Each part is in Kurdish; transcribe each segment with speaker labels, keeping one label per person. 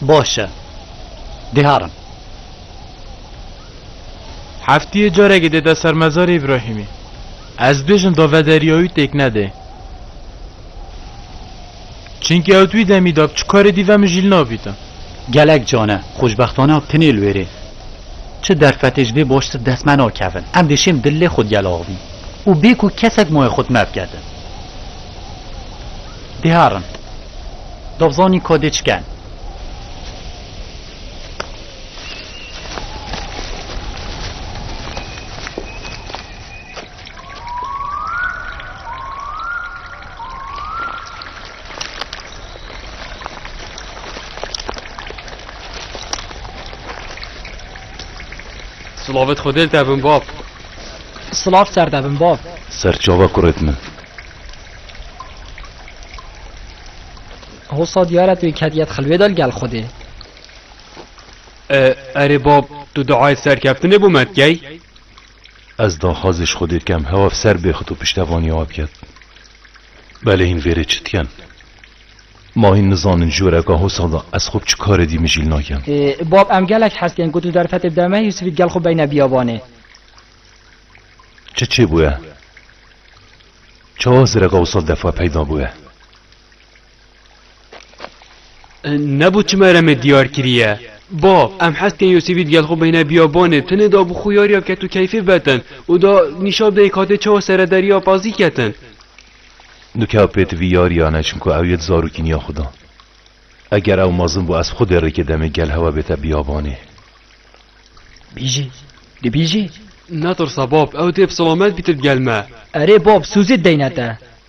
Speaker 1: Baş e. Diharim. Heftiyê carekê dêde ser mezarê Îbrahîmî. Ez bêjim da vederîyayû têk nede. Çinki ew di wî demî de bi çi karê dî ve min jî li navîte. Gelek can e, xweşbextana tinê li wêrê. Çi derfetê ji vê baştir dest me nakevin. Em dê şêm dil lê xwe digel axivîn û bê ku kesek mayê xwe di me biketin. Dê herin. Dab zanîn ka dê çiken. Slavit xudel te bin bab. Slav ser te bin bab. Serçava kurêt min. Hosa diyare tu kediyet xilwê del gel xudê. Erê bab tu diayê serkeftinê bû me dikey? Ez daxwazê ji Xwedê bikem hewa bi ser bêxit û piştevanî ava biket. Belê hîn vêrê çi diken? Ma hîn nizanin ji wêreka hosa de ez xwe bi çi karê dî mijîl nakim. Bab, em gelek hez tên ku tu derfetê bide me, Yûsifî digel xwe beyne biyabanê. Çi çêbûye? Çawa zireka wisa defa peyda bûye? Nebû çima re me diyar kiriye. Bav, em hez dikin Yûsîfî digel xwe bihîne biyabanê, tenê da bi xûyariya ketûkeyfê betin û da nîşan bide yê katê çawa sere deriya Pazî ketin. Nûke ew pêti vî yariyan e çimku ew yê di zarokî niya xwe da. Eger ew mezin bû ez xwedê rêkê demê gel hewa bête biyabanê. Bîjî, tu bîjî. Netirse bab, ew dê bi silamet bîte digel me. Erê bab, Sûzî deyne te.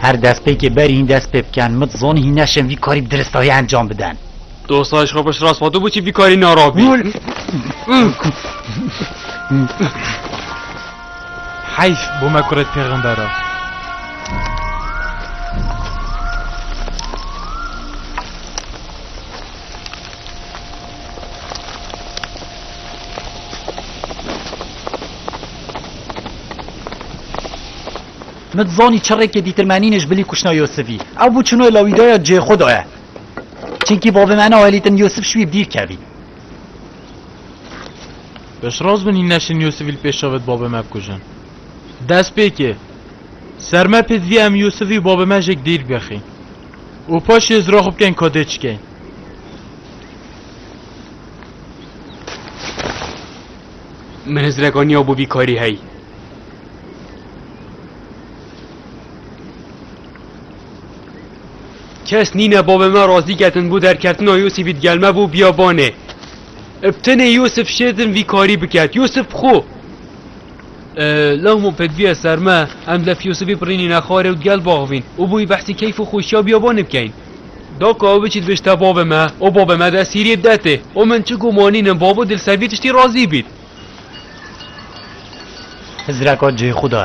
Speaker 1: Her destpêkê berî hîn dest pê bikin. Min zon hîn neşin vî karî bi diristahî encam bidin. Dosta ji xwe xwe ji rast xwe tu bû çi vî karî narabî. Heyf bo me kurê pêxember e. Min dizanî çirrêkê dîtirmenînê ji bilî kuştina Yûsifî. Ew bû çûna lawîdaya cihê xwe daye. Çimkî bavê me nahêlîtin Yûsif ji wî bi dîr kevî. Beş raz bin hîna şiniyo sivîl pêşa ve di babê me bikujin. Destpêkê, ser me pê divî em Yûsivî û babê me jêk dîrk vexîn û paşê hizira xwe bikeyn kadê çikeyn. Min hizirek aniya bo vî karî hey. Kes nîne babê me razî ketin bo derkeftina Yûsivî digel me bo biyabanê. Ev tenê Yûsif Şêdin vî karî biket. Yûsif bi xwe. Lehmû pêdiviya ser me, em lef Yûsifî birînîne xwarê û gel baxvîn û bûyî behsî keyf û xweşiya biyabanê bikeyn. Daka ew biçît bişta bavê me û bavê me di esîriyê bide tê û min çi gumanînim bavo di li ser vî tiştî razî bît. Hizreka cihê xwe de.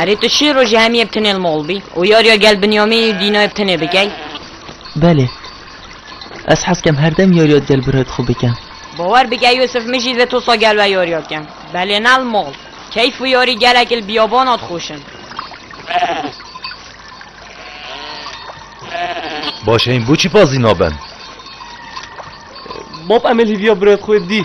Speaker 1: Erê tu şê rojê hemî yê bi tenê li mol bî û yariya gel Binyamîn û Dînayê bi tenê bikey? Belê. Ez hez dikim her dem yariya gel bira di xwe bikim. Bawer bike Yûsif min jî divê tosa gel ve yariya bikim. Belê ne li mol. Keyf û yarî gelekî li biyabana dixweş in. Baş heyîn boçî pazî nabin? Bab Emîl hîviya birayê xwe dî.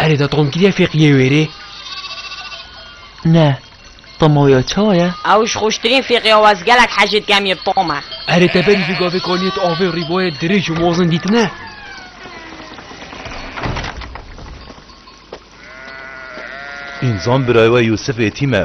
Speaker 1: Erê da tom kiriye fêqiyê wêrê? Ne. Tomoya çawa ye? Ew ji xweştirîn fêqiya wez gelek hejî dikem yê bi tom e. Erê te berî vê gavê kaniyê tu avê rîboyê dirêj û mozin dîtine? Înzan birayê we Yûsif êtîm e.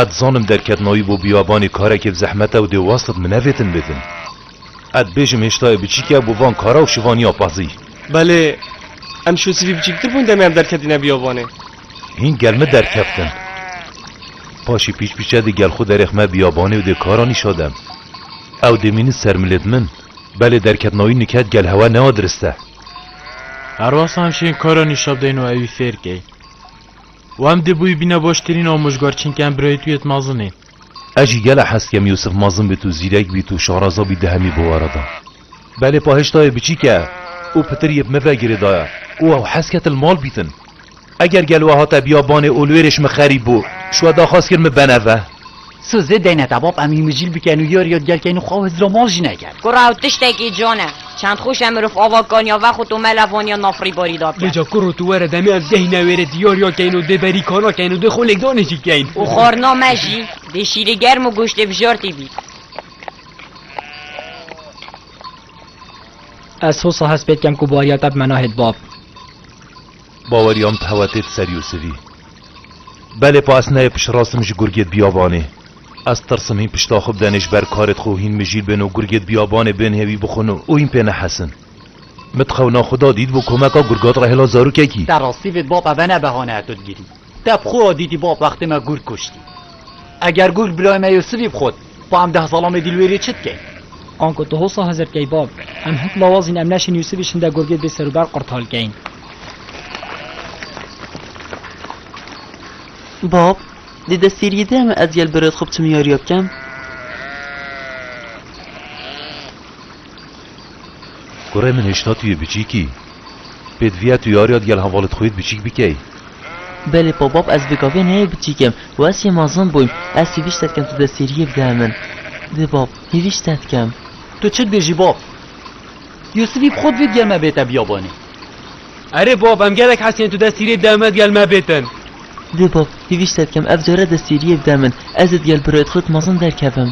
Speaker 1: Ez dizanim derketnayî bo bîyabanê karekê bi zehmet e û dê westit min nevêtin bibin. Ez dibêjim hêştayê biçîk e bo van kara û şivaniya pezî. Belê, em şosîvî biçîktir bûn demê em derketîne bîyabanê. Hîn gel min derkeftin. Paşê pîç pîç e dê gel xwe derêxme bîyabanê û dê kara nîşa dem. Ew dê mînî ser milêt min. Belê derketnayî niket gel hewa newa dirist e. Her wextan şên kara nîşa bideyn û ewî fêr key. Û em dê bûyî bîne baştirîn amojgar çinke em birayî tuyê di mezin ê. Ez jî gelek hez dikem Yûsif mezin bît û zîrek bît û şaraza bît di hemî bi were de. Belê pahişta yê biçîk e û pitir yê bi min ve girê daye û ew hez ket li mal bîtin. Eger gel we hate biyabanê û li wê rê ji min xerîb bû, ji we daxwaz kir min bene ve. So zê deyne te bab em îmicîl biken û yar yad gelkeyn û xwe û hizra mal jî neker. Kura ew tiştekî can e. Çend xwîş e mirov ava kaniya vex û tomela vaniya nafrîbarî da ke. Lê ca kur û tu were demê em deyne wêrê dê yar ya keyn û dê berî kana keyn û dê xwe lêkdanê jî keyn. Û xwarina me jî dê şîrê germ û goştê bijartî bî. Ez hosa hespêt kem ku bariya te bi me nahêt bab. Baweriya min tewa tê di ser Yûsivî. Belê pa ez neyê pişirastim ji gurgê di biyabanê. Ez tirsim hîn pişta xwe bidenê ji ber karê di xwe û hîn mijîl bên û gurgê di biyabanê bên hê wî bixwin û hîn pê nehesin. Min di xewna xwe da dîtibû komeka gurga di re hêla zarokekî. Te rastî vê di bab eve ne behane tu digirî. Te bi xwe dîtî bab wextê me gurg kuştî. Eger gurg birayê me Yûsivî bixwit, xwe em deh zalamê dîlwêrê çi dikeyn? Ango tu hosa hizir bikey bab. Em hin lawazîn em neşên Yûsivî şinde gurgê bê serûber qurtal keyn. Bab, dê destêriyê de em ez gel bi rêdxwe bi timiyariya bikem? Kurê min hişna tu yê biçîk î. Pêdiviya tu yariya digel hevalê di xwe yê di biçîk bikey. Belê Pabab ez bi gavê neyê biçîk im û ez yê mezin bûym. Ez hêvî şte dikim tu dê sêriyê bide min. Dê bab, hêvî şte dikim. Tu çi dibêjî bab? Yûsifî bi xwe divê digel me bête biyabanê. Erê bab em gelek hes yên tu dê sêriyê bide min digel me bêtin. Dê bab, hêvî şte dikim ev care dê sêriyê bide min. Ez ê digel birayê di xwe yê di mezin derkevim.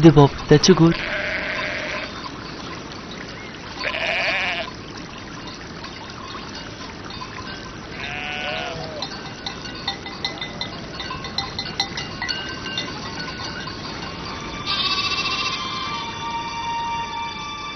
Speaker 1: Di bav te çi got?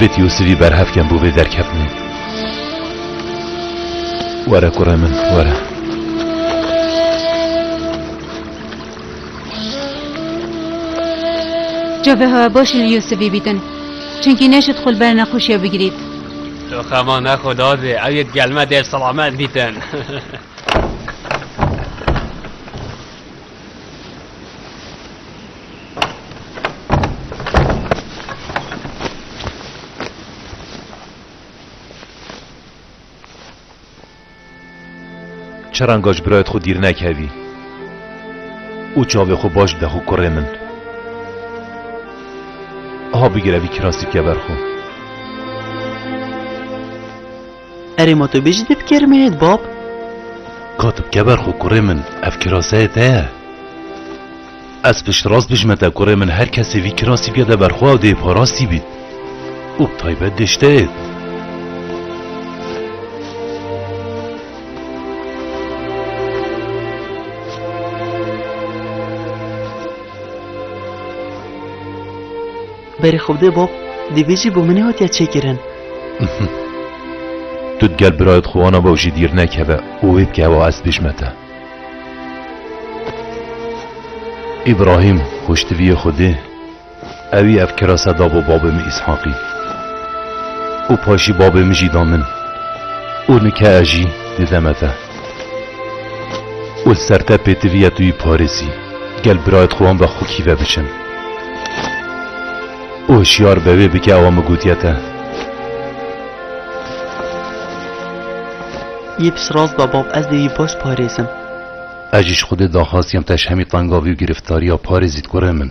Speaker 1: Vêt Yûsivî berhevken bû vê derketinê. Were kurê min, were. Cevê hewa baş li Yûsivî bîtin. Çunkî neşit xul ber nexweşiya bigirît. Xema nexwe dadê, ew yê gelme dê selamet bîtin. Çaran gaş birayet xwe dîr nekevî û çavê xwe baş bide xwe kurê min. Ha bigire vî kirasî bike ber xwe. Erê ma tu bêjî dê bi kêrê me yê dibab. Ka tu bike ber xwe kurê min, ev kiraseyê te ye. Ez piştrast bijme te kurê min her kesê vî kirasî bikete ber xwe ew dê parastî bît. Û bi taybet dê ji te êt. Berê xwe bide bab, divê jî bo min nehatiya çêkirin. Tu di gel birayê xwe wana be û jî dîr nekeve û wê bike ewa ez pêş me te. Îbrahîm xwiştiviyê xwe dê, ewî ev kirase da bo babê min Îshaqî û paşî babê min jî da min û nike ez jî dide me te. Û li ser te pêtiviya tu yî parêzî, gel birayê xwe wan ve xwekî ve biçin. Û hişyar be wê bike awa min gotiye te. Yê piştrast be bab, ez dê wî baş parêzim. Ez jî ji Xwedê daxwaz diyam te ji hemî tenga vî û girîftarîya parêzî dikure min.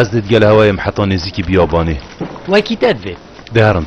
Speaker 1: Ez dê digel hewayê im heta nêzîkî biyabanê. Wekî te divê. Dê herin.